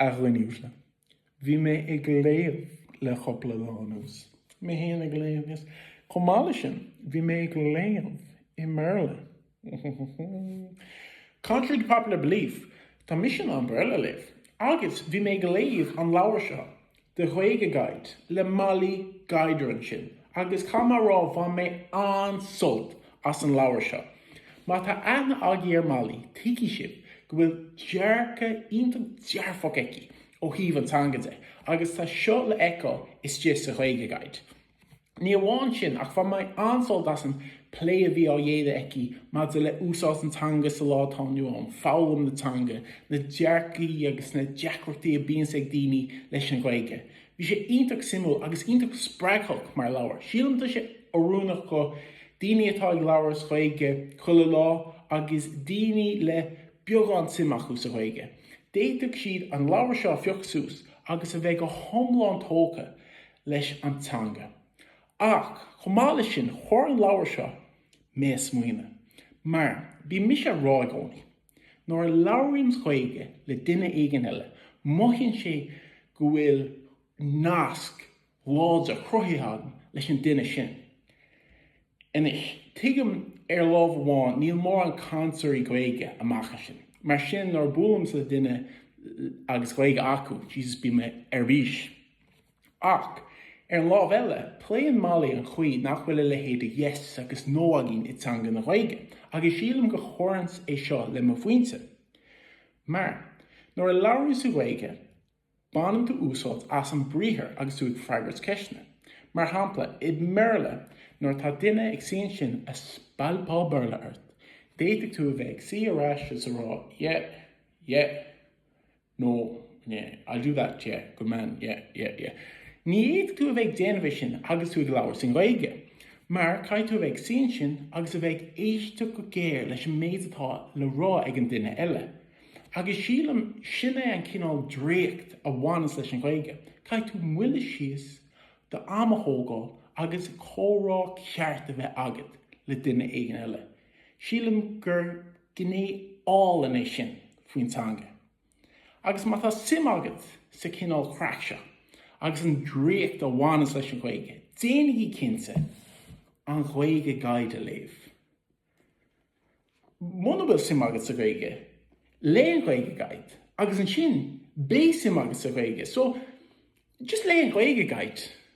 A dhuin'uaisle, bhí mé ag léamh le cupla lá anuas. Mé fhéin ag léamh, yes. Chomh maith leis sin, bhí mé ag léamh i mBéarla. Contrary to popular belief, tá mise in ann Béarla a léamh. Agus bhí mé ag léamh an leabhair seo, The Gaeilge Guide le Mollie Guidera ansin agus caithfidh mé a rá, bhain mé an-sult as an leabhar seo. Má tá aithne agaibh ar Mollie, tuigfidh sibh go bhfuil dearcadh iontach dearfach aici ó thaobh na teanga de agus tá seo le fheiceáil istigh sa Gaeilge Guide. Ní amháin sin, ach bhain mé an-sult as an bplé a bhí á dhéanamh aici maidir le úsáid na teanga sa lá atá inniu ann, foghlaim na teanga, na dearcaí agus na deacrachtaí a bíonns ag daoine leis an Ghaeilge. Bhí sé iontach suimiúil agus iontach spreagthach mar leabhar. Sílim tá sé oiriúnach do dhaoine atá ag labhairt as Gaeilge chuile lá agus daoine le beagán suim acu sa Ghaeilge. D'fhéadfadh siad an leabhar seo a phioc suas agus a bheith go hiomlán tógtha leis an teanga. Ach chomh maith leis sin, chuir an leabhar seo mé ag smaoineamh. Mar, bíonn mise ag rá i gcónaí, nuair a labhraím Gaeilge le duine éigin eile, mothaíonn sé go bhfuil nasc láidir cruthaithe agam leis an duine sin. Anois, tuigim, ar lámh amháin, níl mórán cainteoirí Gaeilge amach ansin, mar sin nuair a buailimse le duine agus Gaeilge acu, Jesus bíonn mé ar bís. Ach, ar an lámh eile, pléann Mollie an chaoi nach bhfuil a leithéid de yes agus no againn i dteanga na Gaeilge, agus sílim go gcuireann sé seo le mo phointe. Mar, nuair a labhraíos tú Gaeilge, Baineann tú úsáid as an briathar agus tú ag freagairt ceisteanna. Mar shampla, i mBéarla, nuair atá duine ag suí ansin ag spalpadh Béarla ort, d'fhéadfadh tú a bheith ag suí ar ais is ag rá yeah, yeah, no, yeah, I'll do that, yeah, good man, yeah, yeah, yeah. Ní fhéadfadh tú a bheith ag déanamh é sin agus tú ag labhairt i nGaeilge, mar caithfidh tú a bheith ag suí ansin agus a bheith ag éisteacht go géar leis an méid atá le rá ag an duine eile. Agus sílim sin é an cineál draíocht a bhaineas leis an Ghaeilge, caithfidh tú moilliú síos, d'am a thógáil agus comhrá ceart a bheith agat le duine éigin eile. Sílim gur gné álainn é sin faoin teanga. Agus má tá suim agat sa chineál craic seo agus an draíocht a bhaineas leis an Ghaeilge, déanaigí cinnte an Gaeilge Guide a léamh. Muna bhfuil suim agat sa Ghaeilge, léigh an Gaeilge Guide agus ansin beidh suim agat sa Ghaeilge. So, just léigh an Gaeilge Guide.